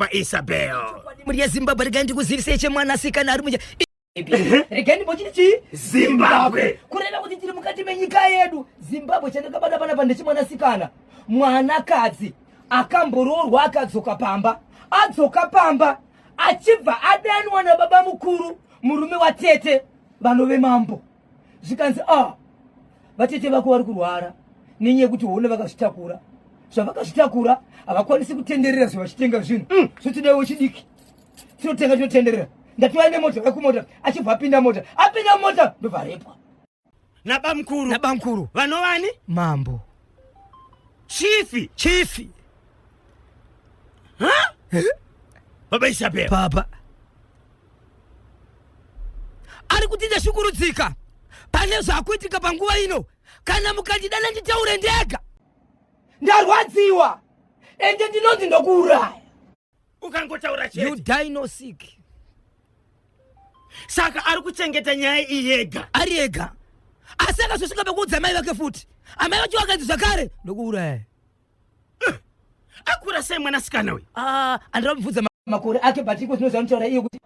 paisabel muri yezimbabwe regai ndikuzivisei chemwanasikana ari muja regai ndimbochiti chii zimbabwe kureva kuti tiri mukati menyika yedu zimbabwe chandakabata panapa ndechimwanasikana mwanakadzi akamboroorwa akadzoka pamba adzoka pamba achibva adanwa nababa mukuru murume watete vanove mambo zvikanzi ah vatete vako vari kurwara nenyaya yekuti hona vakazvitakura zvavakazvitakura havakwanisi kutenderera zve vachitenga zvinhu mm. zvotidawo wechidiki tinotenga tinotenderera ndatiwa ine mota vekumota achibva apinda mota apinda mota ndobvarepwa nabamkuru nabamkuru vanovani mambo chifi chifi baba isabel baba ari kuti ndashungurudzika pane zvakuitika panguva ino kana mukandidana nditaure ndega ndarwadziwa ende ndinonzi ndokuuraya ukangotaura you die no sick saka ari kuchengeta nyaya iyi yega ari ega asi akazosvika pekuudza amai vake futi amai vacho vakanzi zvakare ndokuuraya akura sei mwanasikana uyu ah, andira kubvudza makore ake but iko zvinozva nitaura iye kuti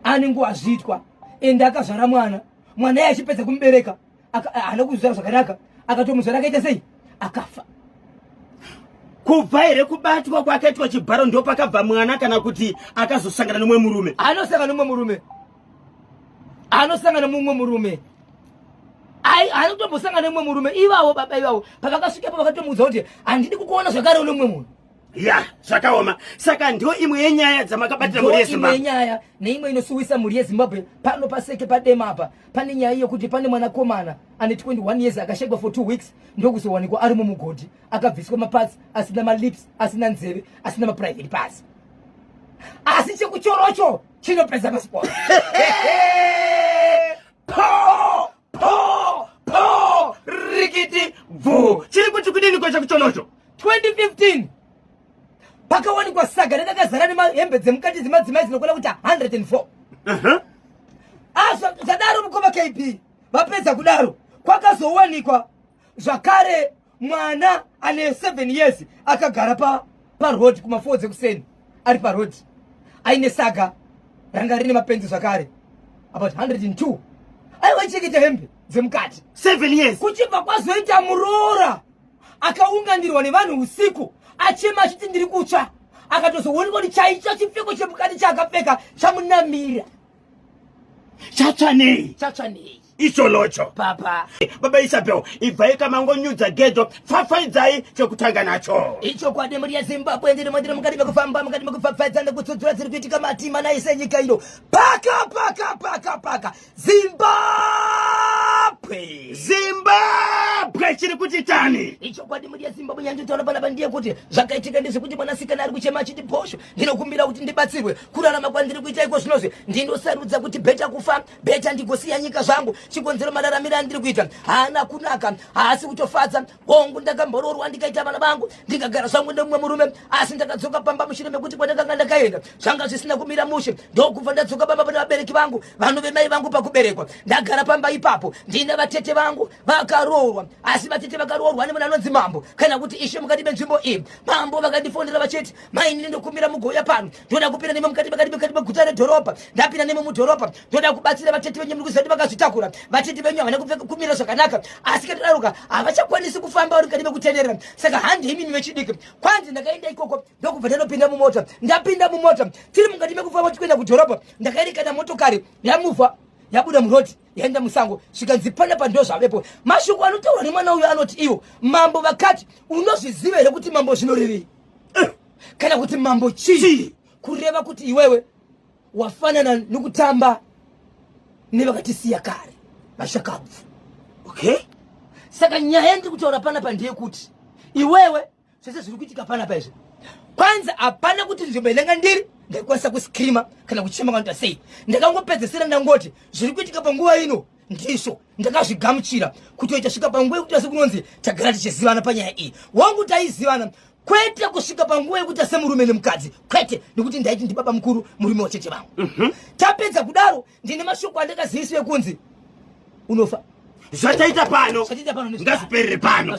ane nguva zviitwa ende akazvara mwana mwana iye achipedza kumubereka haana kuzvara zvakanaka akatomuzvara akaita sei akafa kubva here kubatwa kwakaitwa chibharo ndopakabva mwana kana kuti akazosangana nomwe murume anosangana nomwe murume anosangana mumwe murume anotombosangana nemumwe murume ivavo baba ivavo pavakasvikepo vakatomuudza kuti handidi kukuona zvakare une mumwe munhu ya zvakaoma saka ndo imwe yenyaya dzamakabatira mhuri yezimbabwe yenyaya neimwe inosuwisa mhuri yezimbabwe pano paseke padema apa pane nyaya yekuti pane mwanakomana ane 21 years akashegwa for two weeks ndokuzowanikwa ari mumugodhi akabviswa mapatsi asina malips asina nzeve asina maprivate parts asi chekuchorocho chinopedza basi bora po po po rikiti bvu chiri kuti kudini ko chakuchonocho 2015 pakawanikwa saga rakakazara nemahembe dzemukati dzemadzimai dzinokona kuti 104 uh-huh. ah, zvadaro mukoma kb vapedza kudaro kwakazowanikwa zvakare mwana ane 7 years akagara pa paroad kuma4 dzekuseni ari paroad aine saga ranga rine mapenzi zvakare about 102 aiwacheketa hembe dzemukati 7 years kuchibva kwazoita muroora akaunganirwa nevanhu usiku achema achiti ndiri kutsva akatozoonekwa kuti chaicho chipfeko chemukati chaakapfeka chamunamira chatsvanei chatsvanei icholocho papa baba isabel ibvai kamangonyudza gejo pfapfaidzai chekutanga nacho ichokwadi mhuri yezimbabwe ndiri mandiri mukati mekufamba mukati mekupfapfaidza nekutsudzura dziri kuitika matima naise nyika ino paka paka paka paka zimbabwe zimbabwe chiri kuti tani ichokwadi mhuri yezimbabwe nyanjitaura panapa ndiye kuti zvakaitika ndezvekuti mwanasikana ari kuchema achiti bhosho ndinokumbira kuti ndibatsirwe kurarama kwandiri kuita iko zvinozve ndinosarudza kuti bheta kufa beta ndigosiya nyika zvangu chikonzero mararamiro andiri kuita haana kunaka haasi kutofadza hongu ndakamboroorwa ndikaita vana vangu ndikagara zvangu nemumwe murume asi ndakadzoka pamba mushure mekuti kwandakanga ndakaenda zvanga zvisina kumira mushe ndokubva ndadzoka pamba pane vabereki vangu vanhu vemai vangu pakuberekwa ndagara pamba ipapo ndine vatete vangu vakaroorwa asi vatete vakaroorwa nemunhu anonzi mambo kana kuti ishe mukati menzvimbo iyi mambo vakandifonera vachiti mainini ndokumbira mugouya pano ndoda kupinda nemi mukati makati mukati meguta redhorobha ndapinda nemi mudhorobha ndoda kubatsira vatete venyu muri kuziva kuti vakazvitakura vatete venyu havana kumira zvakanaka asi katodaroka havachakwanisi kufamba vari mukati mekutenderera saka handi imini vechidiki kwanzi ndakaenda ikoko ndokubva ndanopinda mumota ndapinda mumota tiri mukati mekufamba tichienda kudhorobha ndakaerekana motokari yamuvha yabuda muroti yaenda musango zvikanzi pana pando zvavepo mashoko anotaurwa nemwana uyo anoti iwo mambo vakati unozviziva here kuti mambo zvinorevei eh. kana kuti mambo chii kureva kuti iwewe wafanana nokutamba nevakatisiya kare vashakabvu okay saka nyaya yandiri kutaura pana pa ndeyekuti iwewe zvese zviri kuitika pana pa izvi kwanza hapana kuti nzvimbo inanga ndiri ndaikwanisa kuscreama kana kuchema kanoita sei ndakangopedzesera ndangoti zviri kuitika panguva ino ndizvo ndakazvigamuchira kutoita svika panguva yekuti asi kunonzi tagara tichizivana panyaya iyi wangu taizivana kwete kusvika panguva yekuita semurume nemukadzi kwete nekuti ndaiti ndibaba mukuru murume wacheche vangu mm -hmm. tapedza kudaro ndine mashoko andakaziviswa yekunzi unofa zvataita pano ngazviperere pano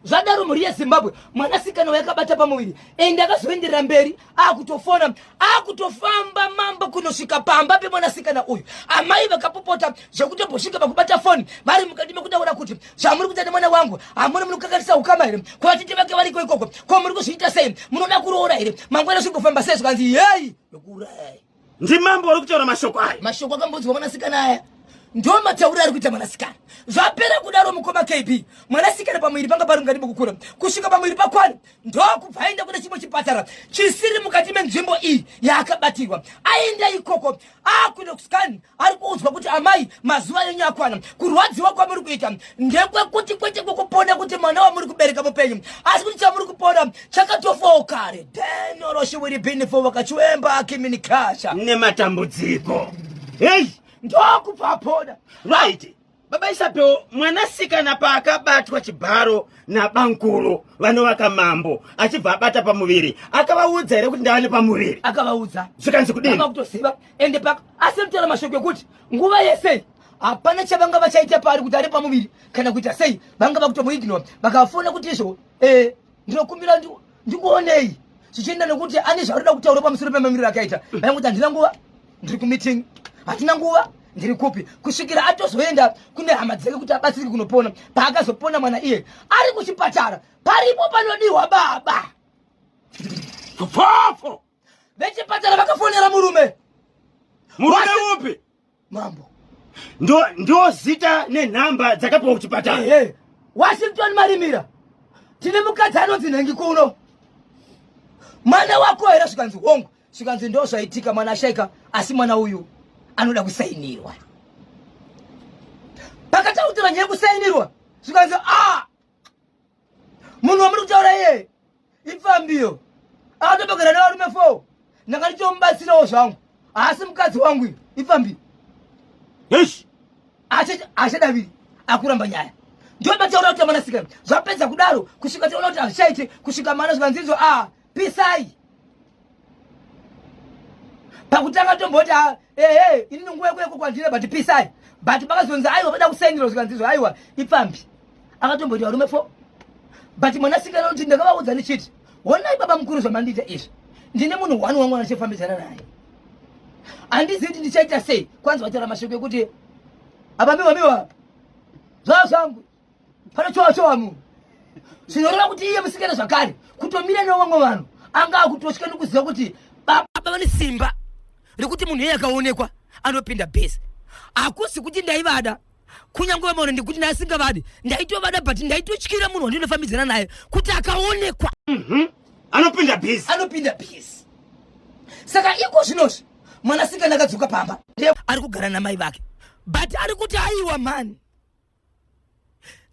zvadaro mhuri yezimbabwe mwanasikana wayakabata pamuviri ende akazoenderera mberi akutofona akutofamba mambo kunosvika pamba pemwanasikana uyu amai vakapopota zvekutobosvika pakubata foni vari mukati mekutaura kuti zvamuri kuita nemwana wangu hamuna muri kukakarisa ukama here kuvatete vake variko ikoko ko muri kuzviita sei munoda kuroora here mangwana zvigofamba sei zvikanzi yei ndokuurayai Ndimambo ari kutaura mashoko aya. Mashoko akambodzwa mwanasikana aya. Ndo mataura ari kuita mwanasikana. Zvapera kudaro mukoma KB. Mwanasikana pamwiri panga pari mukati mokukura. Kusvika pamwiri pakwana ndo kubva aenda kune chimwe chipatara chisiri mukati menzvimbo iyi yaakabatirwa. Aenda ikoko akuda kuskani ari kuudzwa kuti amai mazuva enyu akwana kurwadziwa kwamuri kuita ndekwekuti kwete kwekupona kuti mwana wamuri kubereka mupenyu asi kuti chamuri kupona chakatofawo kare denoroshiwiribinifo vakachiwemba akiminikasha nematambudziko hei ndokupapoda right Baba Isabel mwanasikana paakabatwa chibharo nabankuru vanovaka mambo achibva abata pamuviri akavaudza here kuti ndavane pamuviri akavaudza zvikanzi kudini kutoziva ende paka asi mtaura mashoko ekuti nguva yese hapana chavanga vachaita paari kuti ari pamuviri kana kuita sei vanga vakutomuignore vakafona kuti izvo eh, ndinokumbira ndikuonei zvichienda nekuti ane zvaarida kutaura pamusoro pemamiriro akaita mai kuti handina nguva ndiri kumeeting hatina nguva ndiri kupi kusvikira atozoenda kune hama dzake kuti abatsirike kunopona paakazopona mwana iye ari kuchipatara paripo panodiwa baba vechipatara vakafonera murume murume upi mambo ndo zita nenhamba dzakapiwa kuchipatara hey, hey. washington marimira tine mukadzi anonzi nhengi kuno mwana wako here zvikanzi hongu zvikanzi ndo zvaitika mwana ashaika asi mwana uyu anoda kusainirwa pakatautira nyaya kusainirwa zvikanzi a ah, munhu wamuri kutaura iye ipfambiyo akatobagara nevarume fo ndanga ndichomubatsirawo zvangu haasi mukadzi wangu iyo ipfambiyo yes achadaviri akuramba nyaya ndio bataura kuti amana sikana zvapedza kudaro kusvika taona kuti hazvichaite kusvika mana zvikanzinzwa a ah, pisai pakutanga tomboti ah, ehe ini ndinguva yekuya kokwandira but pisai but pakazonzi aiwa vada kusainirwa zvikanzizvo aiwa ipfambi akatomboti varume fo but mwanasikana kuti ndakavaudza ndichiti honai baba mukuru zvamandiita izvi ndine munhu one wangu anachifambidzana naye handizivi kuti ndichaita sei kwanzi vataura mashoko ekuti apa miwa miwa zvaa zvangu pane chowa chowa munhu zvinoreva kuti iye musikana zvakare kutomira nevamwe vanhu anga akutosvika nekuziva kuti baba vane simba rekuti munhu iye akaonekwa anopinda base hakusi kuti ndaivada kunyange vamaona ndikuti ndaasingavadi ndaitovada but ndaitotyira munhu wandinofambidzana naye kuti akaonekwa mhm. anopinda base anopinda base saka iko zvinozvi mwanasikana akadzoka pamba ari kugara namai vake but ari kuti aiwa mani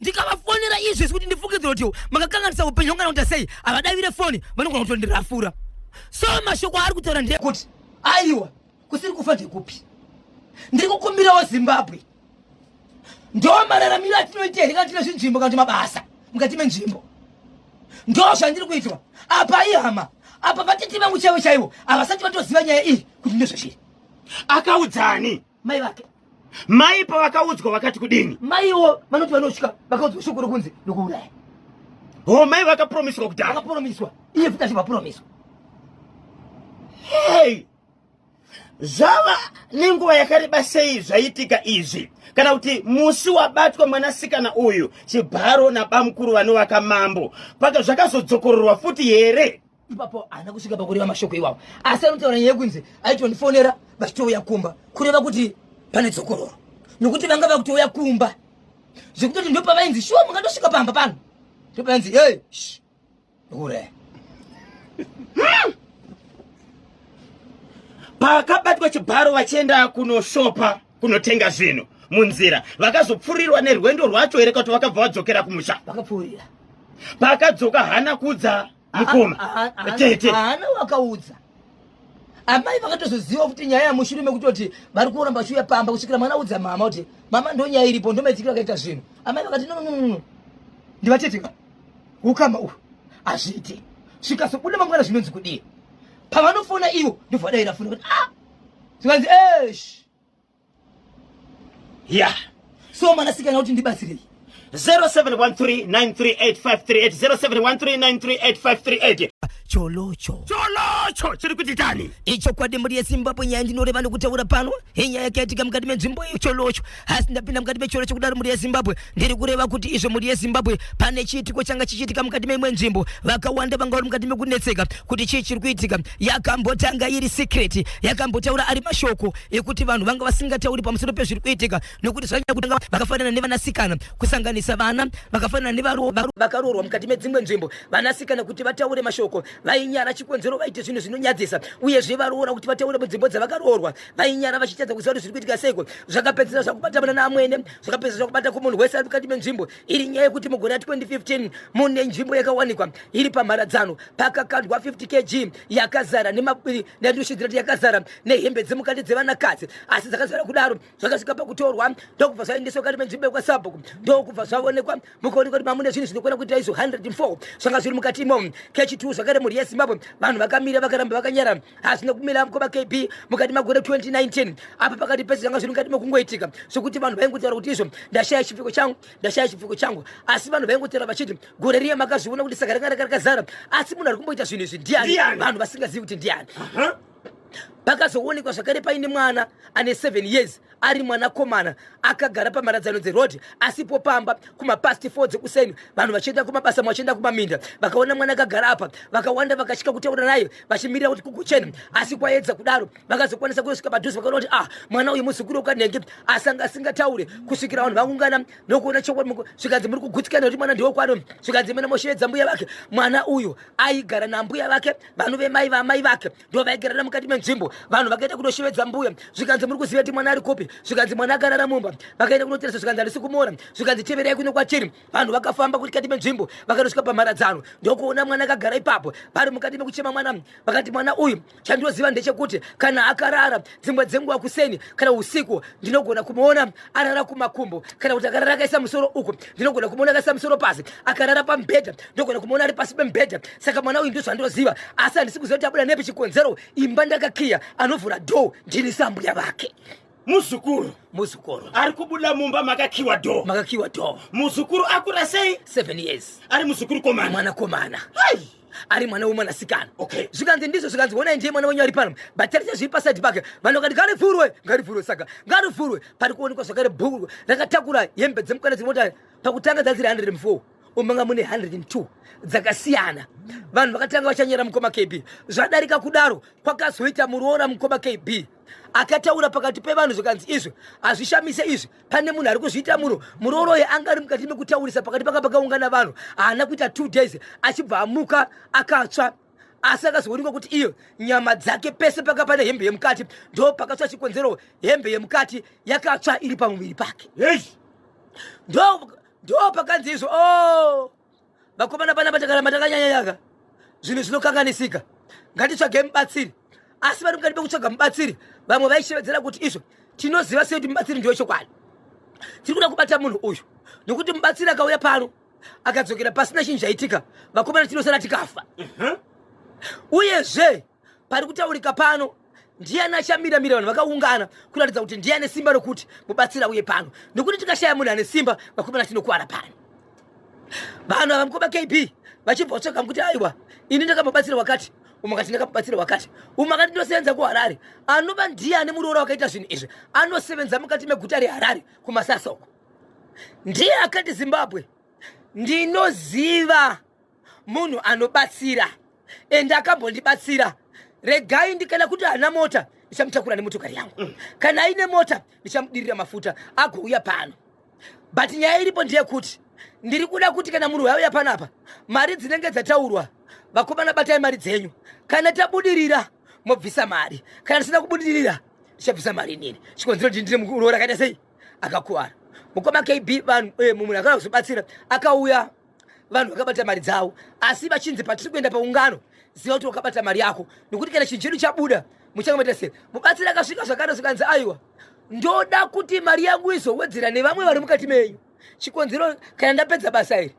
ndikavafonera izvi zvekuti ndifungidzira kuti makakanganisa upenyu hwangana kuita sei havadavire foni vanogona kutondirafura so mashoko aari kutaura ndekuti aiwa kusiri kufa ndekupi ndiri kukumbirawo zimbabwe ndo mararamiro atinoita here kana tine zvinzvimbo kana kuti mabasa mukati menzvimbo ndo zvandiri kuitwa apa ihama apa vatete vangu chaivo chaivo havasati vatoziva nyaya iyi kuti ndezvazviri akaudzani mai vake mai pavakaudzwa vakati kudini maiwo vanoti vanosvika vakaudzwa shoko rokunzi ndokuuraya ho mai vakapromiswa kudhara vakapromiswa iye futi achivapromiswa hei zvava nenguva yakareba sei zvaitika izvi kana kuti musi wabatwa mwanasikana uyu chibharo nabamukuru vanovaka mambo paka zvakazodzokororwa futi here ipapo haana kusvika pakureva mashoko iwawo asi anotaura nyaya yekunzi aitondifonera vachitouya kumba kureva kuti pane dzokororo nokuti vanga vakutouya kumba zvekutoti ndopavainzi shuwa mungatosvika pamba pano ndopavainzi e hure hmm. pakabatwa chibharo vachienda kunoshopa kunotenga zvinhu munzira vakazopfurirwa nerwendo rwacho here kuti vakabva vadzokera kumusha vakapfuurira pakadzoka hana kudza mukoma tete haana wakaudza amai vakatozoziva kuti nyaya yamushure mekutoti vari kuramba vachiuya pamba kusvikira mwana udza mama kuti mama ndo nyaya iripo ndo maitikiro akaita zvinhu amai vakati nononono ndivatete ka ukama uhu hazviite svikasobuda mangwana zvinonzi kudii pavanofona ivo ndovadaira foni kuti a ah! zvikanzi esh yeah so mwanasikana kuti ndibatsirei 0713938538 cholocho cholocho chiri kuti tani ichokwadi mhuri yezimbabwe nyaya ndinoreva nokutaura pano inyaya yakaitika mukati menzvimbo iyo cholocho asi ndapinda mukati mecholocho kudaro mhuri yezimbabwe ndiri kureva kuti izvo mhuri yezimbabwe pane chiitiko changa chichiitika mukati meimwe nzvimbo vakawanda vanga vari mukati mekunetseka kuti chii chiri kuitika yakambotanga iri secret yakambotaura ari mashoko ekuti vanhu vanga vasingatauri pamusoro pezviri kuitika nokuti zvanyanya kutanga vakafanana nevanasikana kusanganisa vana vakafanana nevakaroorwa mukati medzimwe nzvimbo vanasikana kuti vataure mashoko vainyara chikonzero vaite zvinhu zvinonyadzisa uyezve varoora kuti vataure munzvimbo dzavakaroorwa vainyara vachitadza kuziva kuti zviri kuitika seiko zvakapedzisira zvakubata mwana naamwene zvakapedzisira zvakubata kumunhu wese ari mukati menzvimbo iri nyaya yekuti mugore ra 2015 mune nzvimbo yakawanikwa iri pamharadzano pakakandwa 50 kg yakazara nendushidzirati yakazara nehembe dzemukati dzevanakadzi asi dzakazara kudaro zvakasvika pakutorwa ndokubva zvaendeswa kati menzvimbo yekwasabhuku ndokubva zvavonekwa mukaonekwa kuti mamune zvinhu zvinokwana kuita izvo 104 zvanga zviri mukati imomo kechi 2 zvakare mhuri yezimbabwe vanhu vakamira vakaramba vakanyara hazvina kumira mkoma kb mukati magore 2019 apa pakati pese zvanga zviri mukati mekungoitika zvekuti vanhu vaingotaura kuti izvo ndashaya chipfiko changu ndashaya chipfiko changu asi vanhu vaingotaura vachiti gore riya makazviona kuti saka ranga ranga rakazara asi munhu ari kumboita zvinhu izvi ndiani vanhu vasingazivi kuti ndiani pakazoonekwa zvakare paine mwana ane 7 years ari mwanakomana akagara pamharadzano dzeroad asipo pamba kumapasti fo dzekuseni vanhu vachienda kumabasa vachienda kumaminda vakaona mwana akagara apa vakawanda vakasvika kutaura naye vachimirira kuti kugochena asi kwaedza kudaro vakazokwanisa kuyosvika padhuze vakaona kuti ah mwana uyu muzukuru ukanenge asanga asingataure kusvikira vanhu vakungana nokuona chokwadi zvikanzi muri kugutsikana kuti mwana ndiwo kwano zvikanzi mena mosheedza mbuya vake mwana uyu aigara nambuya vake vanove mai vamai vake ndovaigarira mukati menzvimbo vanhu vakaita kunoshevedza mbuya zvikanzi muri kuziva kuti mwana ari kupi zvikanzi mwana akarara mumba vakaenda kunoteresa zvikanzi harisi kumora zvikanzi teverai kuno kwatiri vanhu vakafamba kutikati menzvimbo vakanosvika pamharadzano ndokuona mwana akagara ipapo vari mukati mekuchema mwana vakati mwana uyu chandoziva ndechekuti kana akarara dzimwe dzenguva kuseni kana usiku ndinogona kumuona arara kumakumbo kana kuti akarara akaisa musoro uku ndinogona kumuona akaisa musoro pasi akarara pamubhedha ndinogona kumuona ari pasi pemubhedha saka mwana uyu ndozvandoziva asi handisi kuziva kuti abuda nepi chikonzero imba ndakakiya anovhura dho ndini sambuya vake muzukuru muzukuru ari kubuda mumba makakiwa dho makakiwa dho muzukuru akura sei seven years ari muzukuru komana mwana komana Hai! ari mwana wemwanasikana okay. zvikanzi ndizvo zvikanzi wonai ndiye mwana wenyu ari pano but tarise zviri paside pake vanhu vakati ngarivhurwe ngarivhurwe saka ngarivhurwe pari kuonekwa zvakare bhuru rakatakura hembe dzemukana dziri motari pakutanga dzadziri 104 umanga mune 102 dzakasiyana vanhu vakatanga vachanyera mukoma kb zvadarika kudaro kwakazoita muroora mukoma kb akataura pakati pevanhu zvikanzi izvi hazvishamise izvi pane munhu ari kuzviita muro muroroyi anga ari mukati mekutaurisa pakati panga pakaungana vanhu haana kuita two days achibva amuka akatsva asi akazoonekwa kuti iyo nyama dzake pese paka pane hembe yemukati ndo pakatsva chikonzero hembe yemukati yakatsva iri pamuviri pake ndo pakanzi izvo o oh! Vakomana panapa takaramba takanyanya yaka zvinhu zvinokanganisika. Ngatitsvage mubatsiri. Asi vari mukati pekutsvaga mubatsiri vamwe vaishevedzera kuti izvo tinoziva sei kuti mubatsiri ndiwe chokwadi. Tiri kuda kubata munhu uyu nokuti mubatsiri akauya pano akadzokera pasina chinhu chaitika vakomana tinosara tikafa. Uyezve pari kutaurika pano ndiyani achamira mira vanhu vakaungana kuratidza kuti ndiye ane simba rokuti mubatsira uye pano nokuti tikashaya munhu ane simba vakomana tinokuwara pano vanhu ava mukoma kb vachibva vatsvaga kuti aiwa ini ndakamubatsira wakati umwe akati ndakamubatsira wakati umwe akati ndinosevenza kuharare anova ndiye ane muroora wakaita zvinhu izvi anosevenza mukati meguta reharare kumasasa uko ndiye akati zimbabwe ndinoziva munhu anobatsira and akambondibatsira regai ndikana kuti haana mota ndichamutakura nemotokari yangu mm. kana aine mota ndichamudirira mafuta agouya pano but nyaya iripo ndeyekuti ndiri kuda kuti kana munhu wauya panapa mari dzinenge dzataurwa vakomana batai mari dzenyu kana tabudirira mobvisa mari kana tisina kubudirira ndichabvisa mari inini chikonzero ndi ndiri muroora akaita sei akakuvara mukoma kb vanhu eh, mumwe akana kuzobatsira akauya vanhu vakabata mari dzavo asi vachinzi patiri kuenda paungano ziva kuti wakabata mari yako nokuti kana chinhu chedu chabuda muchanga maita sei mubatsiri akasvika zvakare zvikanzi aiwa ndoda kuti mari yangu izowedzera nevamwe vari mukati menyu chikonzero kana ndapedza basa iri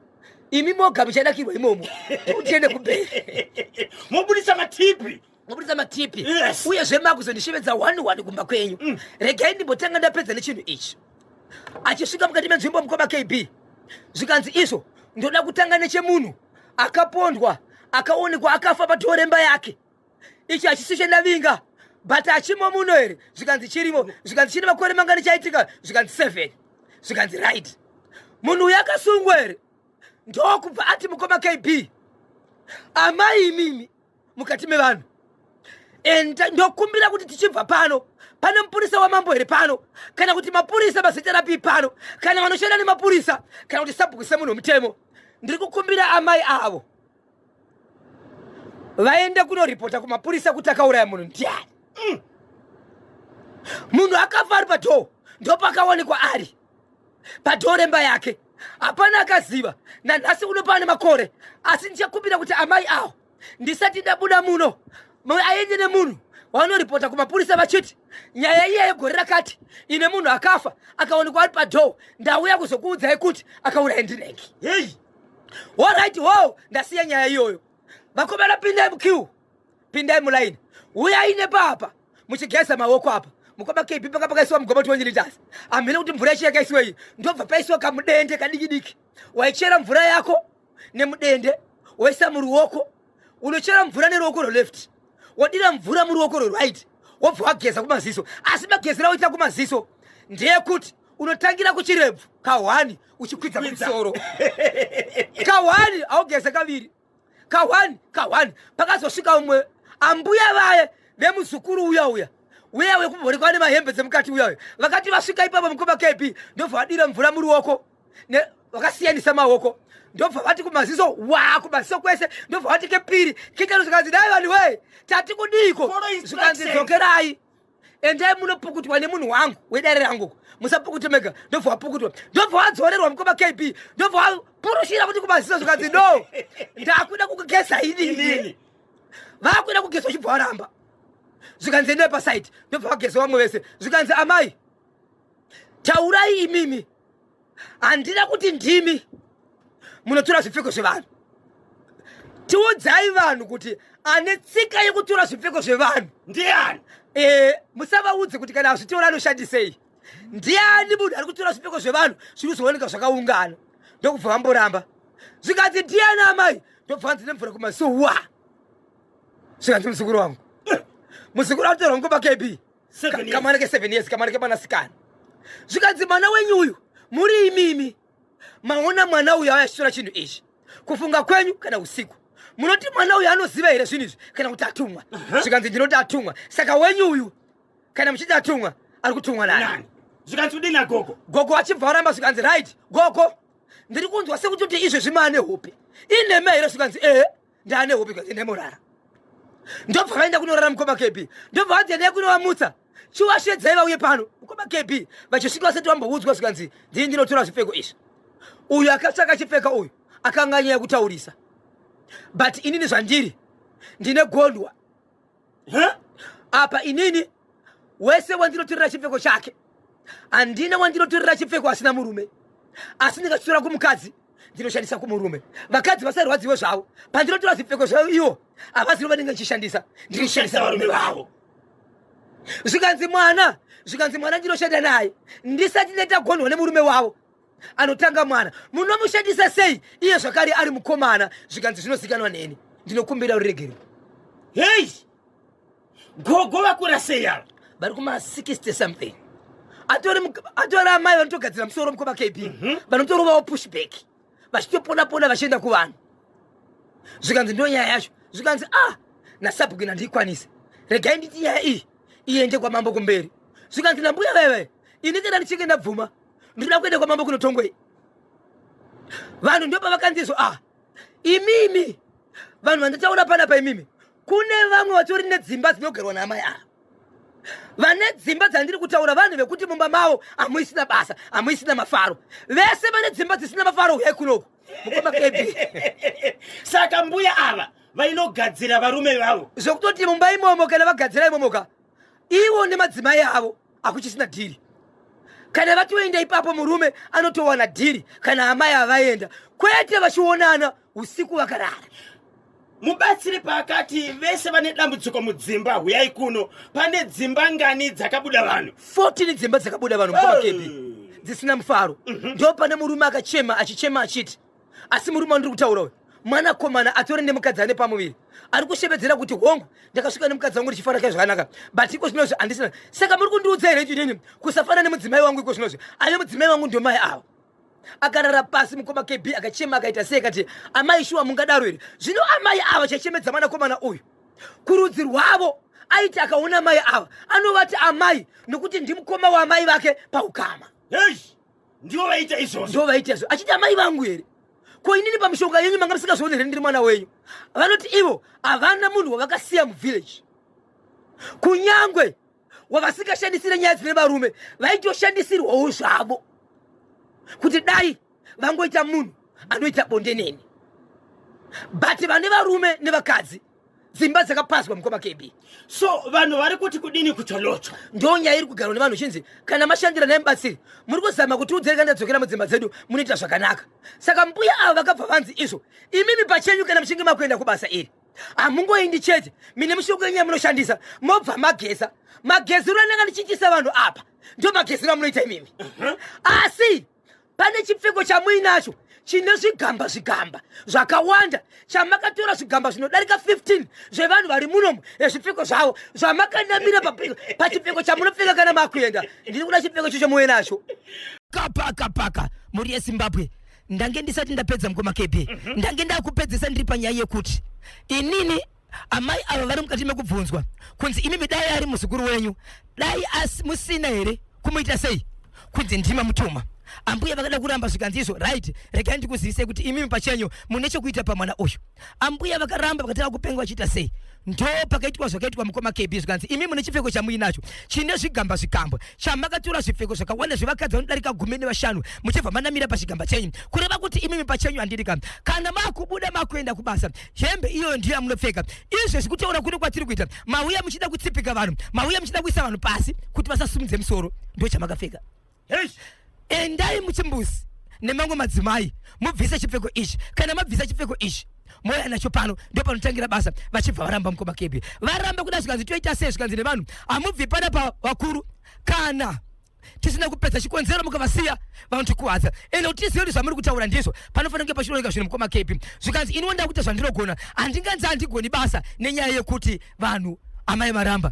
imi moga muchadakirwa imomo kuti tiende kubheri mobudisa matipi maburitsa matipi yes. uye zvemaakuzondishevedza one one kumba kwenyu mm. regai ndimbotanga ndapedza nechinhu ichi achisvika mukati menzvimbo mukoma kb zvikanzi izvo ndoda kutanga nechemunhu akapondwa akaonekwa akafa padhoo remba yake ichi hachisi chendavinga but achimo muno here zvikanzi chirimo mm. zvikanzi chine makore mangani chaitika zvikanzi seven zvikanzi right munhu uyo akasungwa here ndokubva ati mukoma kb amai imimi mukati mevanhu and ndokumbira kuti tichibva pano pane mupurisa wamambo here pano kana kuti mapurisa mazita rapi pano kana vanoshanda nemapurisa kana kuti sabhuku semunhu wemutemo ndiri kukumbira amai avo vaende kunoripota kumapurisa kuti akauraya munhu ndiani mm. munhu akafa ari padhoo ndopakawanikwa ari padhoo remba yake hapana akaziva nanhasi unopaa nemakore asi ndichakumbira kuti amai awo ndisati ndabuda muno aende nemunhu wavanoripota kumapurisa vachiti nyaya iya yegore rakati ine munhu akafa akaonekwa ari padhoo ndauya kuzokuudzai kuti akauraya ndireki hei horit ho ndasiya nyaya iyoyo vakomana pindai mukiu pindai mulaini uyai nepapa muchigeza maoko apa mukoma kp paka pakaisiwa mugoma kuti wonyilitasi amhina kuti mvura yacho yakaisiwa iyi ndobva paisiwa kamudende kadikidiki waichera mvura yako nemudende woisa muruoko unochera mvura neruoko rweleft wodira mvura muruoko rweright wobva wageza kumaziso asi magezera woita kumaziso ndeyekuti unotangira kuchirebvu kahwani uchikwidza kumusoro kahwani augeze kaviri kahwani kahwani pakazosvika umwe ambuya vaye vemuzukuru uya uya uya wekumhorikwa nemahembe dzemukati uya uya vakati vasvika ipapo mukoma kb ndobva vadira mvura muruoko ne vakasiyanisa maoko ndobva vati kumaziso wa kumaziso kwese ndobva vati kepiri kechano zvikanzi dai vanhu wee tati kudiiko zvikanzi dzokerai endai munopukutwa nemunhu wangu wedare rangu musapukute mega ndobva wapukutwa ndobva wadzorerwa mukoma kb ndobva wapurushira kuti kumaziso zvikanzi no ndakuda kukugesa inini vakuda kugesa uchibva waramba zvikanzi endai pasaidi ndobva vagesa vamwe vese zvikanzi amai taurai imimi handina kuti ndimi munotora zvipfeko zvevanhu tiudzai vanhu kuti ane tsika yekutora zvipfeko zvevanhu ndiani e, musavaudze kuti kana azvitora anoshandisei ndiani munhu ari kutora zvipfeko zvevanhu zviri kuzooneka zvakaungana ndokubva vamboramba zvikanzi ndiani amai ndobva vanzi nemvura kumasowa zvikanzi muzukuru wangu muzukuru akutorwa nguva kb kamwana ke seven years kamwana kemwanasikana zvikanzi mwana wenyu uyu muri imimi maona mwana uyu ayashitora chinhu ichi kufunga kwenyu kana usiku munoti mwana uyu anoziva here zvinhu izvi kana kuti atumwa zvikanzi ndinoti atumwa saka wenyu uyu kana muchiti atumwa ari kutumwa nani zvikanzi kudini agogo gogo achibva aramba zvikanzi right gogo ndiri kunzwa sekuti kuti izvezvi maane hope ineme here zvikanzi ehe ndaane hope kwaze ndaimorara ndobva vaenda kunorara mukoma kb ndobva vanzi endai kunovamutsa chiwashedzai vauye pano mukoma kb vachisvika vasati vamboudzwa zvikanzi ndii ndinotora zvipfeko izvi uyu akatsvaka chipfeka uyu akanga anyaya kutaurisa but inini zvandiri ndine gondwa apa inini wese wandinotorera chipfeko chake handina wandinotorera chipfeko asina murume asi ndikachitora kumukadzi ndinoshandisa kumurume vakadzi vasarwadziwe zvavo pandinotora zvipfeko zvavo ivo havazivo vanenge ndichishandisa ndinoshandisa varume vavo zvikanzi mwana zvikanzi mwana ndinoshanda naye ndisati ndaita gonhwa nemurume wavo anotanga mwana munomushandisa sei iye zvakare ari mukomana zvikanzi zvinozikanwa neni ndinokumbira uregerwe hei gogo vakura sei ava vari kuma 60 something atori amai vanotogadzira musoro mukoma kb mhm. vanotorovawo pushback vachitopona pona vachienda kuvanhu zvikanzi ndo nyaya yacho zvikanzi a ah, nasabhuki nandiikwanise regai nditi nyaya iyi iende kwamambo kumberi zvikanzi nambuya veve ini kana ndichinge ndabvuma ndinoda kuenda kwamambo kunotongwei vanhu ndo pavakanzizwa ah imimi vanhu vanditaura panapa imimi kune vamwe vatori nedzimba dzinogerwa naamai ava vane dzimba dzandiri kutaura vanhu vekuti mumba mavo hamuisina basa hamuisina mafaro vese vane dzimba dzisina mafaro uye kunoku mukoma kb saka mbuya ava vainogadzira varume vavo zvekutoti mumba imomo kana vagadzira imomoka ivo nemadzimai avo akuchisina dhiri kana vatoenda ipapo murume anotowana dhiri kana amai avaenda kwete vachionana usiku vakarara mubatsiri paakati vese vane dambudziko mudzimba huyai kuno pane dzimba ngani dzakabuda vanhu 14 dzimba dzakabuda vanhu mukoma kebi dzisina mufaro mhm. ndo pane murume akachema achichema achiti asi murume wandiri kutaura uyu mwana komana atori nemukadzi ane pamuviri ari kushevedzera kuti hongu ndakasvika nemukadzi wangu richifara kai zvakanaka but iko zvinozvi handisina saka muri kundiudza here chinini kusafana nemudzimai wangu iko zvinozvi ave mudzimai wangu ndomai ava akarara pasi mukoma kb akachema akaita sei kati amai shuwa mungadaro here zvino amai ava chachemedza mwana komana uyu kurudzi rwavo aiti akaona mai ava anovati amai nokuti ndimukoma waamai vake paukama hey! ndivo vaita izvozvo ndivo vaita izvozvo achiti amai vangu here ko inini pamishonga yenyu manga musingazoone here ndiri mwana wenyu vanoti ivo havana munhu wavakasiya muvillage kunyangwe wavasingashandisire nyaya dzine varume vaitoshandisirwawo zvavo kuti dai vangoita munhu anoita bonde neni but vane varume nevakadzi dzimba dzakapazwa mukoma kb so vanhu vari kuti kudini kutolotswa ndo nyaya iri kugarwa nevanhu chinzi kana mashandira naye mubatsiri muri kuzama kuti udzereka ndadzokera mudzimba dzedu munoita zvakanaka saka mbuya avo vakabva vanzi izvo imimi pachenyu kana muchinge makuenda kubasa iri hamungoindi chete mine mushoko yenyaya munoshandisa mobva mageza mageziro ananga ndichiitisa vanhu apa ndo mageziro amunoita imimi uh-huh. asi pane chipfeko chamuinacho chine zvigamba zvigamba zvakawanda chamakatora zvigamba zvinodarika 15 zvevanhu vari munomu ezvipfeko zvavo zvamakanamira pachipfeko chamunopfeka kana makuenda ndiri kuda chipfeko chocho muve nacho kapaka paka mhuri yezimbabwe ndange ndisati ndapedza mukoma kb mhm. ndange ndakupedzesa ndiri panyaya yekuti inini amai ava vari mukati mekubvunzwa kunzi imimi dai ari muzukuru wenyu dai asi musina here kumuita sei kunzi ndima mutuma ambuya vakada kuramba zvikanzi izvo right regai ndikuzivisei kuti imimi pachenyu mune chekuita pamwana uyu ambuya vakaramba vakatanga kupenga vachiita sei ndo pakaitwa zvakaitwa mukoma kb zvikanzi imi mune chipfeko chamuinacho chine zvigamba zvigambwa chamakatura zvipfeko zvakawanda zvevakadzi vanodarika gumi nevashanu muchibva manamira pachigamba chenyu kureva kuti imimi pachenyu handiri ka kana makubuda makuenda kubasa hembe iyoyo ndiyo yamunopfeka izvezvi kutaura kuno kwatiri kuita mauya muchida kutsipika vanhu mauya muchida kuisa vanhu pasi kuti vasasumudze musoro ndo chamakapfeka endai muchimbuzi nemamwe madzimai mubvise chipfeko ichi kana mabvisa chipfeko ichi mouya nacho pano ndo panotangira basa vachibva varamba mukoma kebi varamba kuda zvikanzi toita sei zvikanzi nevanhu hamubvi pana pa vakuru kana tisina kupedza chikonzero mukavasiya vanotikuwadza ende kuti tizive kuti zvamuri kutaura ndizvo panofanira kunge pachinooneka zvinhu mukoma kepi zvikanzi ini wonda kuita zvandirogona handinganzi handigoni basa nenyaya yekuti vanhu amai varamba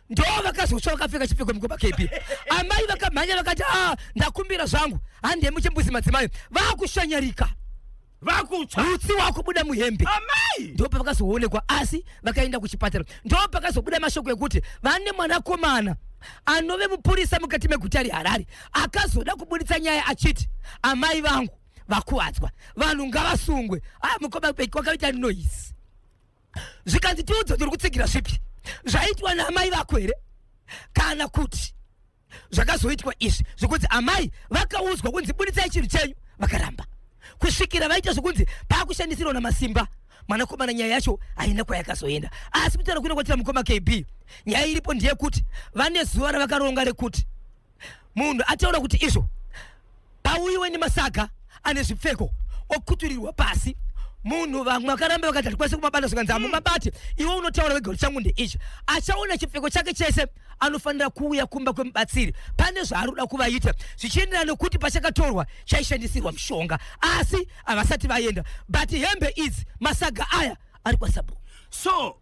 ndo vakazosva vakapfeka chipfeko mukoma kepi amai vakamhanya vakati a ah, ndakumbira zvangu handemuchimbuzi madzimai vakushanyarika vakutsva utsi wakubuda muhembe amai ndipo pavakazoonekwa asi vakaenda kuchipatara ndipo pakazobuda mashoko ekuti vane mwanakomana anove mupurisa mukati meguta reharare akazoda kuburitsa nyaya achiti amai vangu vakuvadzwa vanhu ngavasungwe aya mukoma beki wakaita noise zvikanzi tiudze kuti uri kutsigira zvipi zvaitwa naamai vako here kana kuti zvakazoitwa izvi zvekunzi amai vakaudzwa kunzi buditsai chinhu chenyu vakaramba kusvikira vaita zvekunzi paakushandisirwa namasimba mwanakomana nyaya yacho haina kwayakazoenda asi kutaura kuenda kwatira mukoma kb nyaya iripo ndeyekuti vane zuva ravakaronga rekuti munhu ataura kuti izvo pauyiwe nemasaga ane zvipfeko okuturirwa pasi munhu vamwe akaramba vakati hatikwanise kumabata zvikanzi hamumabati mm. iwe unotaura wega kuti changu ndeichi achaona chipfeko chake chese anofanira kuuya kumba kwemubatsiri pane zvaari kuda kuvaita zvichienderana nokuti pachakatorwa chaishandisirwa mushonga asi havasati vaenda but hembe idzi masaga aya ari kwasabhuku so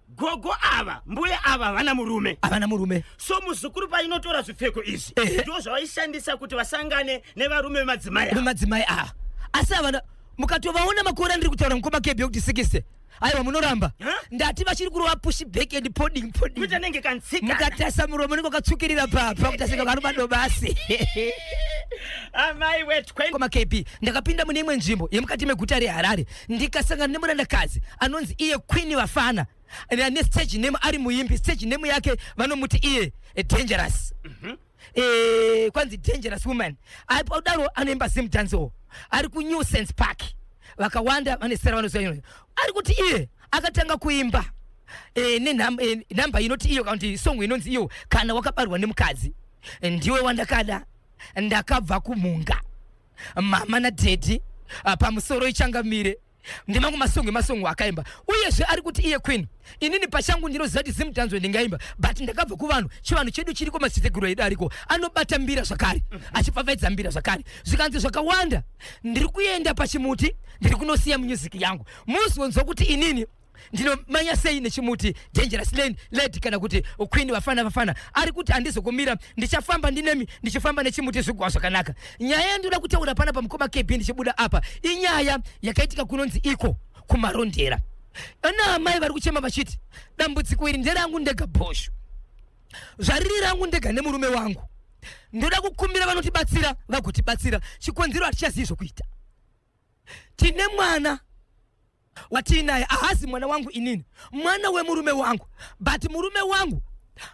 gogo ava mbuya ava havana murume havana murume so muzukuru painotora zvipfeko izvi ndo zvavaishandisa kuti vasangane nevarume vemadzimai vemadzimai ava asi havana mukatovaona makore andiri kutaura mukoma kebhe kuti sikise aiwa munoramba ndati vachiri kurova pushi back and poding podingkutanenge kansika mukatasa muromo nenge wakatsukirira papa kutasika vanhu madobasi amai wetwe koma kb ndakapinda mune imwe nzvimbo yemukati meguta reharare ndikasangana nemurandakadzi anonzi iye queen vafana ane stage name ari muimbi stage name yake vanomuti iye eh, dangerous mm -hmm. e, kwanzi dangerous woman aipodaro anoimba zim dancewo ari kunew sense park vakawanda vane sera vanoziva ari kuti iye akatanga kuimba e, nenhamba e, eh, inoti iyo kana kuti songo inonzi iyo kana wakabarwa nemukadzi ndiwe wandakada ndakabva kumhunga mama nadhedhi ah, pamusoro ichangamire ndemamwe masongo emasongo akaimba uyezve ari kuti iye queen inini pachangu ndinoziva kuti zimdanzwe ndingaimba but ndakabva kuvanhu chivanhu chedu chiriko madziteteguru edu ariko anobata mbira zvakare mhm. achipfapfaidza mbira zvakare zvikanzi zvakawanda ndiri kuenda pachimuti ndiri kunosiya music yangu muzonzwa kuti inini ndinomanya sei nechimuti dangerous lane lady kana kuti queen vafana vafana ari kuti handizokumira ndichafamba ndinemi ndichifamba nechimuti zvigwa zvakanaka nyaya yandoda kutaura pana pamukoma kb ndichibuda apa inyaya yakaitika kunonzi iko kumarondera ana amai vari kuchema vachiti dambudziko iri nderangu ndega bhoshu zvariri rangu ndega nemurume wangu ndoda kukumbira vanotibatsira vagotibatsira chikonzero hatichazivi zvokuita tine mwana watiinaye ahazi mwana wangu inini mwana wemurume wangu but murume wangu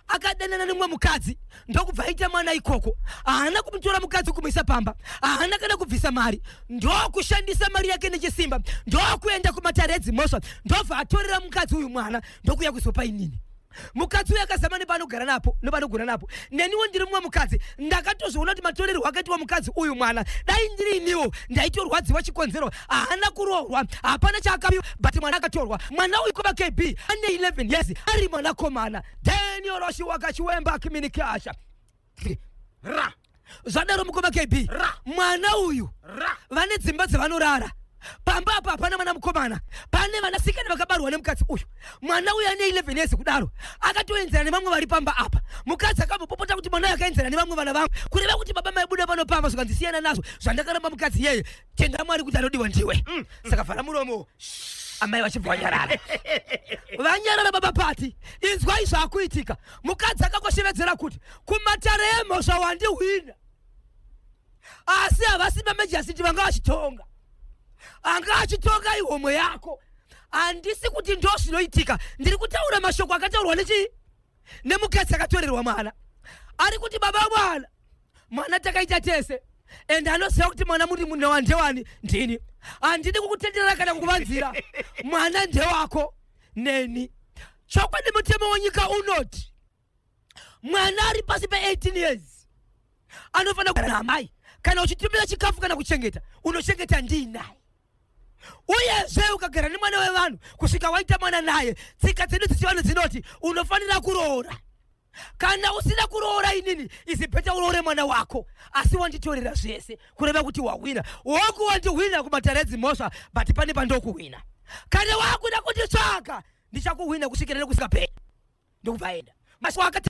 akadanana nemumwe mukadzi ndokubva aita mwana ikoko haana kumutora mukadzi kumuisa pamba haana kana kubvisa mari ndokushandisa mari yake nechisimba ndokuenda kumatare edzimhosva ndobva atorera mukadzi uyu mwana ndokuya kuzopa inini mukadzi uyo akazama nepanogara napo nepanogona napo neniwo ndiri mumwe mukadzi ndakatozviona kuti matorerwo akaitwa mukadzi uyu mwana dai ndiri iniwo ndaitorwadziwa chikonzero haana kuroorwa hapana chaakapiwa but mwana akatorwa mwana uyu kuva kb ane 11 years ari mwanakomana daniel oshiwaka chiwemba kiminikasha ra zvadaro mukoma kb ra mwana uyu ra vane dzimba dzevanorara pamba apa hapana mwana mukomana pane vanasikana vakabarwa nemukadzi uyu mwana uyu ane 11 years kudaro akatoenzera nevamwe vari pamba apa mukadzi akambopopota kuti mwana uyu akaenzera nevamwe vana vangu kureva kuti baba maibuda pano pamba zvikandisiyana nazvo zvandakaramba mukadzi iyeye tenda mwari kuti anodiwa ndiwe mm. saka vhara muromo amai vachibva vanyarara vanyarara baba pati inzwai zvaakuitika mukadzi akangoshevedzera kuti kumatare emhosva wandihwina asi havasi mamejasiti vanga vachitonga anga achitonga ihomwe yako handisi kuti ndo zvinoitika ndiri kutaura mashoko akataurwa nechii nemukadzi akatorerwa mwana ari kuti baba mwana mwana takaita tese and anoziva kuti mwana muri munhu wandewani ndini handidi kukutenderera kana kukuvanzira mwana ndewako neni chokwadi mutemo wenyika unoti mwana ari pasi pe18 years anofanira kugara naamai kana uchitumira chikafu kana kuchengeta unochengeta ndiinaye uyezve ukagara nemwana wevanhu kusvika waita mwana naye tsika dzedu dzechivanhu dzinoti unofanira kuroora kana usina kuroora inini izibheta uroore mwana wako asi wanditorera zvese kureva kuti wahwina woku wandihwina kumatare edzimhosva but pane pandokuhwina kana wakuda kunditsvaga ndichakuhwina kusvikira nekusingaperi ndokubva aenda masi wakati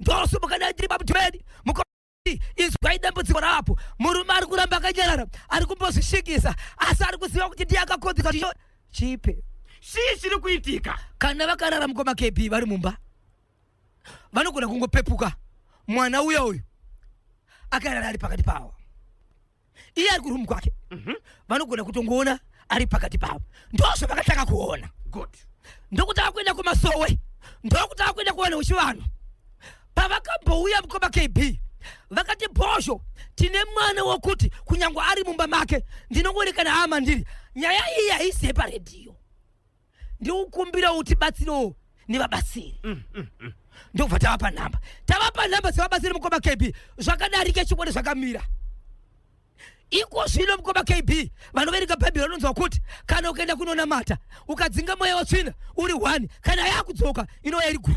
ndosumuka naye ndiri pamudhibeni muko izwai dambudziko rapo murume ari kuramba akanyarara ari kumbozvishingisa asi ari kuziva kuti ndiye akakonzeka chicho chipe chii chiri kuitika kana vakarara mukoma kb vari mumba vanogona kungopepuka mwana uya uyu akarara ari pakati pavo iye ari kurumu kwake mhm. vanogona kutongoona ari pakati pavo ndozvo vakatanga kuona ndokutanga kuenda kumasowe ndokutanga kuenda kuwana uchivanhu pavakambouya mukoma kb vakati bhozho tine mwana wokuti kunyange ari mumba make ndinongoonekana hama ndiri nyaya iyi haisiye paredhiyo ndikukumbira utibatsirewo nevabatsiri mm, mm, mm. ndokubva tavapa nhamba tavapa nhamba dzevabatsiri mukoma kb zvakadarika chikwadi zvakamira iko zvino mukoma kb vanoverenga bhaibheri vanonzwa kuti kana ukaenda kunonamata ukadzinga mweya watsvina uri one kana yakudzoka inova iri gu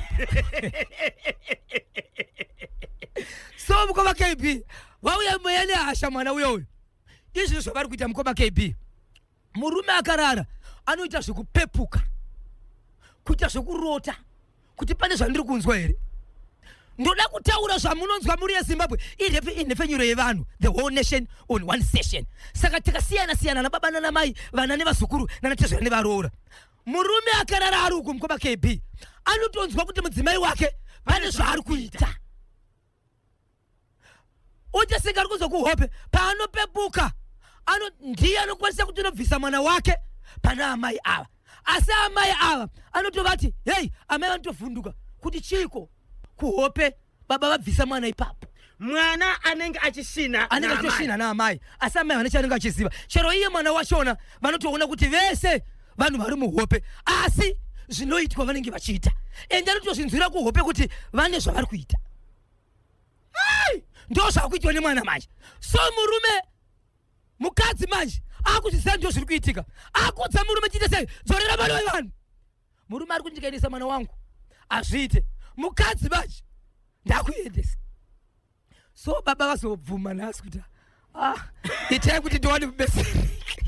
so mukoma kb vauya mweya nehasha mwana uyo uyo izvino zvavari kuita mukoma kb murume akarara anoita zvekupepuka kuita zvekurota kuti pane zvandiri kunzwa here ndoda kutaura zvamunonzwa muri yezimbabwe inhefenyuro yevanhu the whole nation on one session saka tikasiyana siyana nababa nanamai vana nevazukuru nanatezvera nevaroora murume akarara ari uku mukoma kb anotonzwa kuti mudzimai wake pane zvaari kuita uchasinga ari kuzwa kuhope paanopepuka ano ndiye anokwanisa kuti unobvisa mwana wake pana amai ava asi amai ava anotovati hei amai vanotovhunduka kuti chiiko kuhope baba vabvisa mwana ipapo mwana anenge achisina anenge achisina naamai asi amai vane chaanenge achiziva chero iye mwana wachona vanotoona kuti vese vanhu vari muhope asi zvinoitwa vanenge vachiita ende anotozvinzwira kuhope kuti vane zvavari kuita Ai! Ndo zvakuitwa nemwana manje. So murume mukadzi manje akuzvisa ndo zviri kuitika. Akudza murume chite sei? Dzorera mwana wevanhu. Murume ari kundikainisa mwana wangu. Azviite. Mukadzi manje ndakuendesa. So baba vazobvuma nhasi kuti Ah, itai kuti ndiwane mubeseri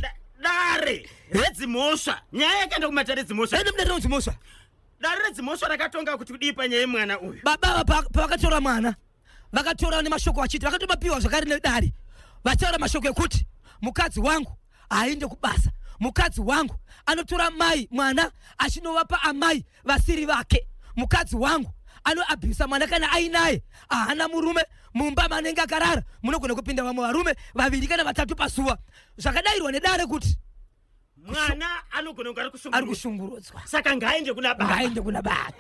Da- dare redzimhosva nyaya yakaenda kumatare redzimhosva aenda mudare redzimhosva dare redzimhosva rakatonga kuti kudii panyaya yemwana uyu baba ava pa- pavakatora mwana vakatora nemashoko vachiti vakatomapiwa zvakare nedare vataura mashoko ekuti mukadzi wangu haaende kubasa mukadzi wangu anotora mai mwana achinovapa amai vasiri vake mukadzi wangu anoabhisa mwana kana ainaye ahana murume mumba manenge akarara munogona kupinda vamwe varume vaviri kana vatatu pasuva zvakadairwa nedare kuti mwana anogona kunge ari kushungurudzwa saka ngaaende kuna baba ngaaende kuna baba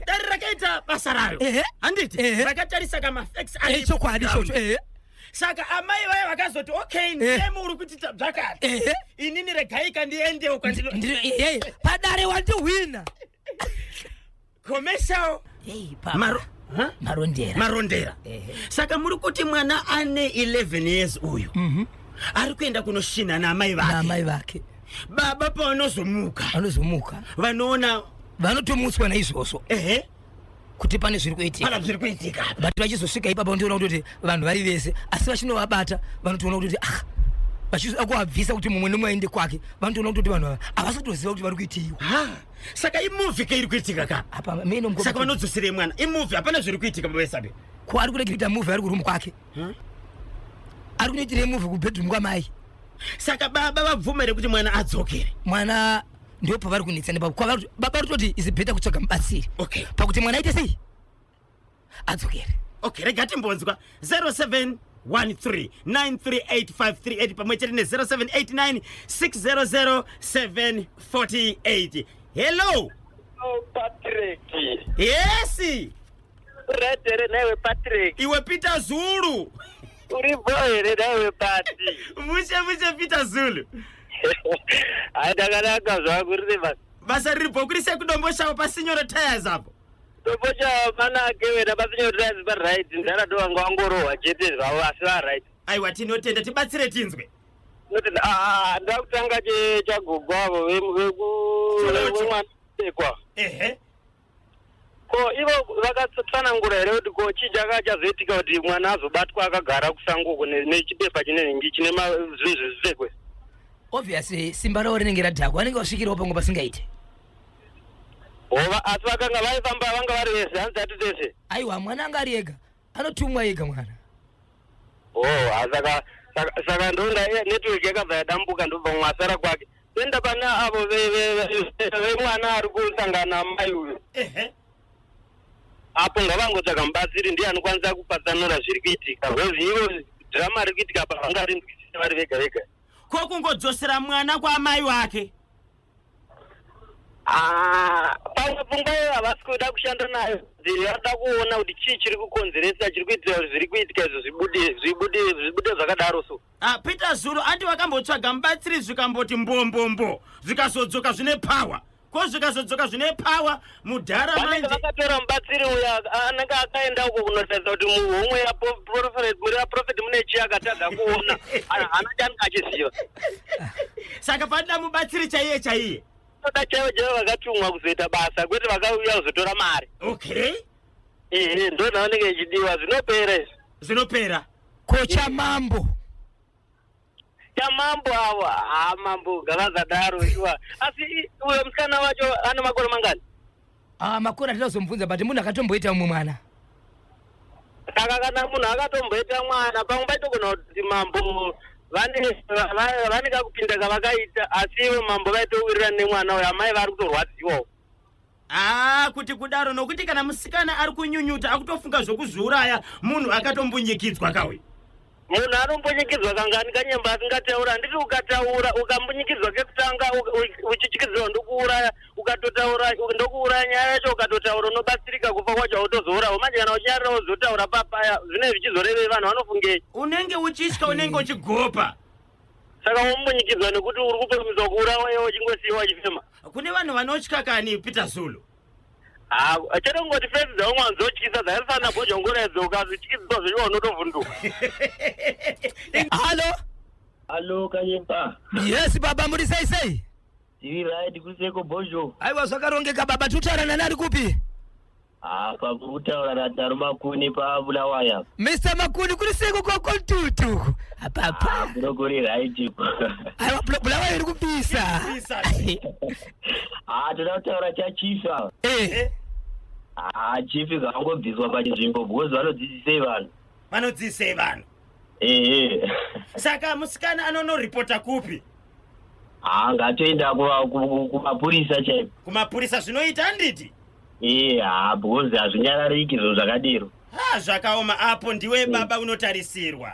dare rakaita basa rayo handiti rakatarisa kamafex echokwadi ichocho saka amai vaya vakazoti okay ndiyemi eh. uri kuti tabzvakati eh, eh. inini regaika ndiendewo kwandinopadare wandihwina commercial marondera marondera saka muri kuti mwana ane 11 years uyu mhm. ari kuenda kunoshina naamai vakeamai vake baba pavanozomuka vanozomuka vanoona vanotomutswa naizvozvo ehe kuti pane zviri kuitika pana zviri kuitika but vachizosvika ipapa undiona kuti vanhu vari vese asi vachinovabata vanotoona kuti ah vachizvida kuabvisa kuti mumwe nemwe aende kwake vanotoona kutoti vanhu ava havasi kutoziva kuti vari kuitiiwa saka imuvi keiri kuitika ka apa saka vanodzoserei mwana imuvi hapana zviri kuitika bavesabe ko ari kuda kuita muvi ari kurumu kwake ari kunoitira muvi kubedroom kwamai saka baba vabvumere kuti mwana adzokere mwana ndipo pavari kunetsana ipapo kwavari baba rutoti is better kutsvaga mubatsiri Okay. pakuti mwana aite sei adzokere okay rega timbonzwa 0713938538 pamwe chete ne0789600748 hello Oh, Patrick. yesi Red here newe Patrick? Iwe Peter Zulu. Uri bho here newe Pati? Mushe mushe Peter Zulu. Hayi ndakanaka zvangu rine basa. Basa riri bho kuri sekudombo shavo pasinyoro tires apo. Dombo shavo manake wena pasinyoro tires pa right ndara do vanga wangorohwa chete zvavo asi va right. Aiwa tinotenda tibatsire tinzwe. Tinotenda ah, ah ndakutanga chagogwavo vemwana. Ehe. ko ivo vakatsanangura here kuti ko chii chaka chazoitika kuti mwana azobatwa akagara kusango uko ne- nechipepa chinenge chine ma- zvinhu zvezvipfekwe obviously simba ravo rinenge radhakwa vanenge vasvikirawo pamwe pasingaite hova asi vakanga vaifamba vanga vari vese hanzi ati tese aiwa mwana anga ari ega Anotumwa ega mwana. Oh, ah, saka saka saka ndonda eh, network yakabva yadambuka ndobva mwasara kwake. Tenda pane avo ve ve ve- ve mwana ari kusangana mai uyu. Ehe. Apo ngavangotsvaka mubatsiri ndiye anokwanisa kupatsanura zviri kuitika. Because ivo drama riri kuitika apa vangarinzwisisa vari vega vega. Ko kungodzosera mwana kwa mai wake. Ah, pamwe pfungwa iyoyo havasi kuda kushanda nayo dziri vanoda kuona kuti chii chiri kukonzeresa chiri kuitira kuti zviri kuitika izvo zvibude zvibude zvibude zvakadaro so Ah, peter zulu ati vakambotsvaga mubatsiri zvikamboti mbombombo zvikazodzoka zvine power ko zvikazodzoka zvine power mudhara vanenge vakatora mubatsiri uya anenge akaenda uko kunotaridza kuti muhomwe yaprofeti mune chii akatadza kuona hana chani achiziva saka panoda mubatsiri chaiye chaiye toda chaivo chaivo vakatumwa kuzoita basa kwete vakauya kuzotora mari okay ehe ndo zvavanenge ichidiwa zvinopera izvi zvinopera kocha mambo chamambo awa ha mambo gavazadaro shuwa asi uyo musikana wacho ano makore mangani ah makore atida kuzomubvunza but munhu akatomboita mumwe mwana saka kana munhu akatomboita mwana pamwe paitogona kuti mambo vane va- va- vane kakupinda kavakaita asi ivo mambo vaitowirira nemwana uyo amai vari kutorwadziwawo aa kuti kudaro nokuti kana musikana ari kunyunyuta akutofunga zvokuzviuraya munhu akatombunyikidzwa kauyu munhu anombunyikidzwa kangani kanyemba asingataura handiti ukataura ukambunyikidzwa kekutanga uchityidzirwa ndokuuraya ukatotaura ndokuuraya nyaya yacho ukatotaura unobatsirika kufa kwacho hautozourawo manje kana uchinyarira wozotaura papaya zvinei zvichizorevei vanhu vanofungei unenge uchitya unenge uchigopa saka wamunyikidza nekuti uri kupromisa kuurawa iye wachingosiiwa achifema kune vanhu vanotya kani peter zulu Ah, chete kungoti fesi dzaumwe anzotyisa dzakafanana bhoja ungoredza ukazityisiwa zvechiwa unotovhunduka halo Hello, Kayempa. yes baba muri sei sei Tiri right kuseko Bojo. aiwa zvakarongeka baba tutaura nani ari kupi Ah, pakutaura radaro makuni pabulawaya mr makuni kuri sei koko kontutu uku apapa bro kuri right iko aiwa bula- bulawayo iri kupisa ah toda kutaura chachifa Eh, ah chief zvangobviswa pachinzvimbo because vanodzidzisei vanhu vanodzidzisei vanhu ehe saka musikana anonoripota kupi ah ngatoenda kuva- ku- kumapurisa chaiko kumapurisa zvinoita handiti iye haa because hazvinyarariki zvinhu zvakadiro ha zvakaoma apo ndiwe baba unotarisirwa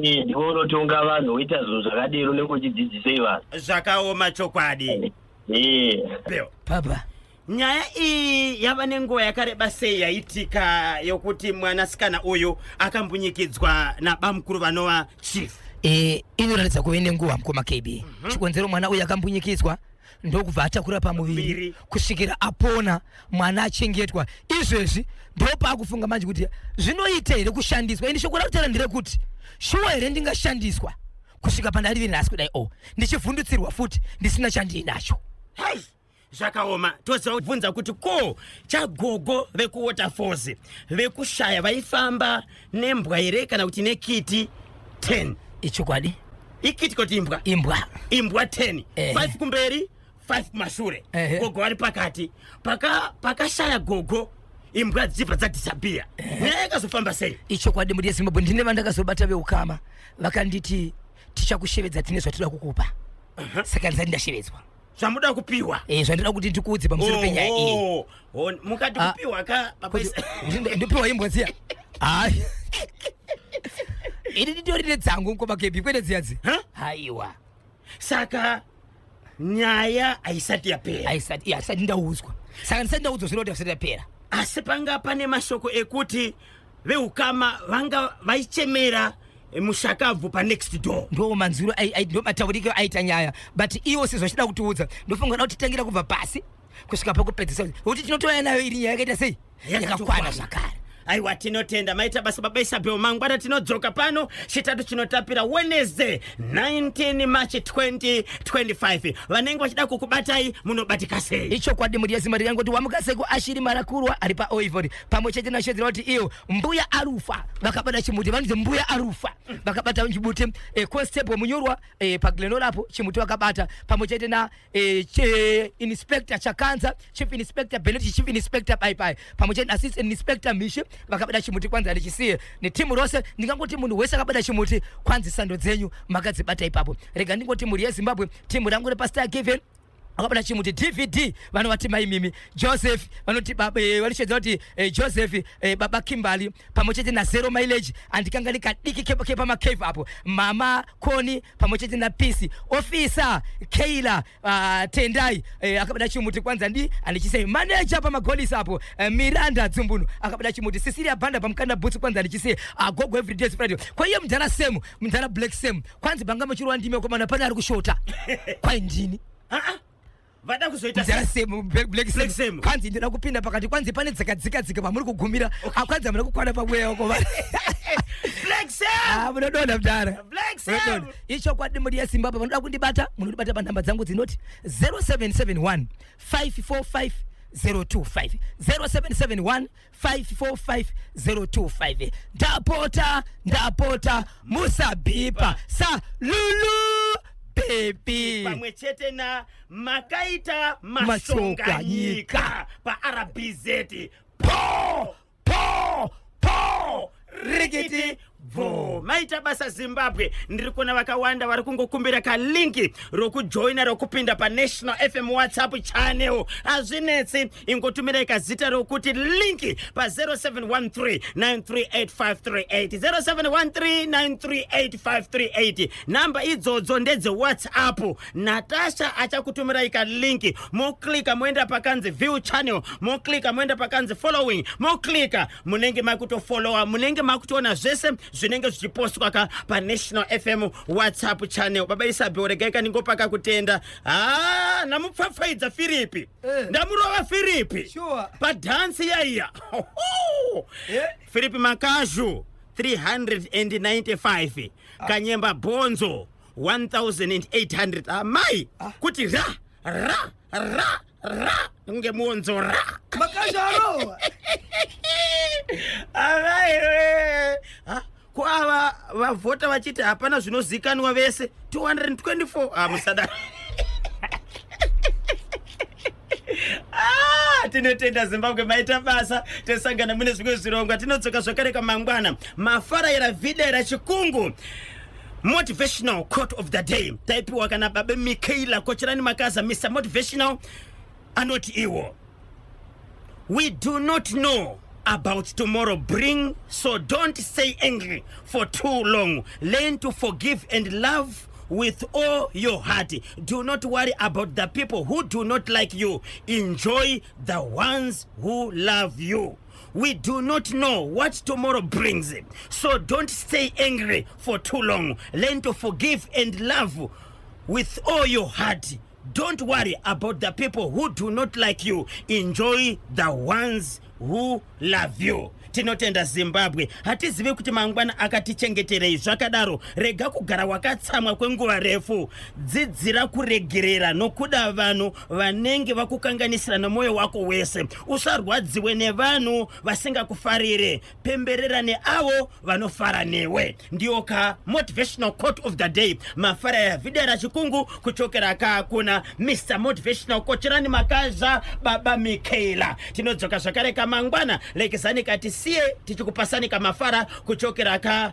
iye ndiwe unotonga vanhu woita zvinhu zvakadiro unenge uchidzidzisei vanhu zvakaoma chokwadi iye Bill, Papa. nyaya iyi yava nenguva yakareba sei yaitika yokuti mwanasikana uyu akambunyikidzwa nabamukuru vanova chief Eh, inoratidza kuve nenguva mukoma KB. Chikonzero mwana uyu akambunyikidzwa ndokubva atakura pamuviri kusvikira apona mwana achengetwa izvezvi ndopaakufunga manje kuti zvinoita here kushandiswa ini shoko rakutera nderekuti shuwa here ndingashandiswa kusvika pandarivi nhasi kudai o oh, ndichivhundutsirwa futi ndisina chandiinacho zvakaoma tozobvunza kuti ko chagogo vekuwaterfalls vekushaya vaifamba nembwa here kana kuti nekiti 10 ichokwadi ikiti koti imbwa imbwa imbwa 10 eh. 5 kumberi 5 kumashure eh. gogo vari pakati pakashaya paka gogo imbwa dzichibva dzadisappear eh. nyaya yakazofamba sei ichokwadi mudi yezimbabwe ndine vandakazobata veukama vakanditi tichakushevedza tine zvatinoda kukupa uh -huh. saka ndisati ndashevedzwa zvamuda kupiwa Eh, zvandinoda kuti ndikuudze pamusoro penyaya iyi Oh, oh, oh, mukati Ah, kupiwa ka Kuti- papaisa kuti ndo- ndopiwa imbwa dziya hayi ini nditorine dzangu mkoma kepi kwete dziya dzi Huh? haiwa saka nyaya haisati yapera aisati asati ndaudzwa saka ndisati ndaudzwa zvinoda kusati yapera asi panga pane mashoko ekuti veukama vanga vaichemera eh, mushakabvu panext door ndo manzwiro ai- ai- ndo matauriko aita nyaya but iwo sezvachida kutiudza ndofunga da kutitangira kubva pasi kusvika pakupedzisa kuti tinotouya nayo iri nyaya yakaita sei yakakwana zvakare aiwa tinotenda maita basa baba isabel mangwana tinodzoka pano chitatu chinotapira wednesday 19 march 2025 vanenge vachida kukubatai munobatika sei ichokwadi mudiyazimari yangoti wamukaseko ashiri marakurwa ari paoivori pamwe chete nashedzera kuti iyo mbuya arufa vakabata chimuti vanonzi mbuya arufa vakabata chimuti eh, constable munyorwa eh, paglenora apo chimuti vakabata pamwe chete na eh, che, inspector chakanza chief inspector benet chief inspector baibai pamwe chete assistant inspector mishi vakabata chimuti kwanzi handichisiye netimu rose ndingangoti munhu wese akabata chimuti kwanzi sando dzenyu makadzibata ipapo rega ndingoti mhuri yezimbabwe timu rangu repastar given akabata chimuti dvd vanovati mai mimi joseph vanoti eh, vanoshedza kuti eh, joseph eh, baba kimbali pamwe chete nazero mileage andikanga ndikadiki kepamacave apo mama koni pamwe chete napisi ofisa keila ah, tendai akabata chimuti kwanza ndi andichisei maneja pamagolisi apo miranda dzumbunu akabata chimuti sisiria banda pamukanda bhutsu kwanza andichisei agogo ah, everyday friday kwaiye mudhara semu mudhara black semu kwanzi banga muchirova ndimi akomana pane ari kushota kwai ndini vada kuzoitakwanzi ndina kupinda pakati kwanzi pane dzakadzikadzika pamuri kugumira akwanzi amuna kukwana pamweya wako vaa munodonha mdara ichokwadi mudi yezimbabwe vanoda kundibata munondibata panhamba dzangu dzinoti 0771 545 025 0771 545 ndapota ndapota musabhipa sa lulu bebi pamwe chete na makaita mashonganyika paRBZ po po po rikiti bvo maita basa zimbabwe ndiri kuona vakawanda vari kungokumbira kalinki rokujoina rokupinda panational fm whatsapp channel hazvinetsi ingotumirai kazita rokuti linki pa 0713938538 0713938538 nhamba idzodzo ndedzewhatsapp natasha achakutumirai ka link moclika moenda pakanzi view channel moclika moenda pakanzi following moclika munenge makutofollowa munenge makutoona zvese zvinenge zvichipostwa ka panational fm whatsapp channel baba isabheo regai kaningopaka kutenda ha namupfapfaidza firipi eh. ndamurova firipi sure. padhansi yaiya eh? firipi makazhu 395 ah. kanyemba bhonzo 1800 amai ah, ah. kuti ra ra ra ra kunge muonzo ra makazvarowa avaiwe ah, ko ava vavhota vachiti hapana zvinozikanwa vese 224 amusadaro Ah, tinotenda zimbabwe maita basa tesangana mune zvimwe zvirongwa tinodzoka zvakare kamangwana mafaraira videra chikungu motivational court of the day taipiwa kana babe mikaela kocherani makaza mr motivational anoti iwo we do not know about tomorrow bring so don't stay angry for too long learn to forgive and love with all your heart do not worry about the people who do not like you enjoy the ones who love you we do not know what tomorrow brings so don't stay angry for too long learn to forgive and love with all your heart Don't worry about the people who do not like you. Enjoy the ones who love you. Tinotenda Zimbabwe. Hatizivi kuti mangwana akatichengeterei zvakadaro. Rega kugara wakatsamwa kwenguva refu. Dzidzira kuregerera nokuda vanhu vanenge vakukanganisira nomoyo wako wese. Usarwadziwe nevanhu vasingakufarire. pemberera neavo vanofara newe ndiyo ka motivational court of the day mafara ya video ra chikungu kuchokera ka kuna mr motivational kocherani makazha baba mikaela tinodzoka zvakare ka mangwana lekezani ka tisiye tichikupasani ka mafara kuchokera ka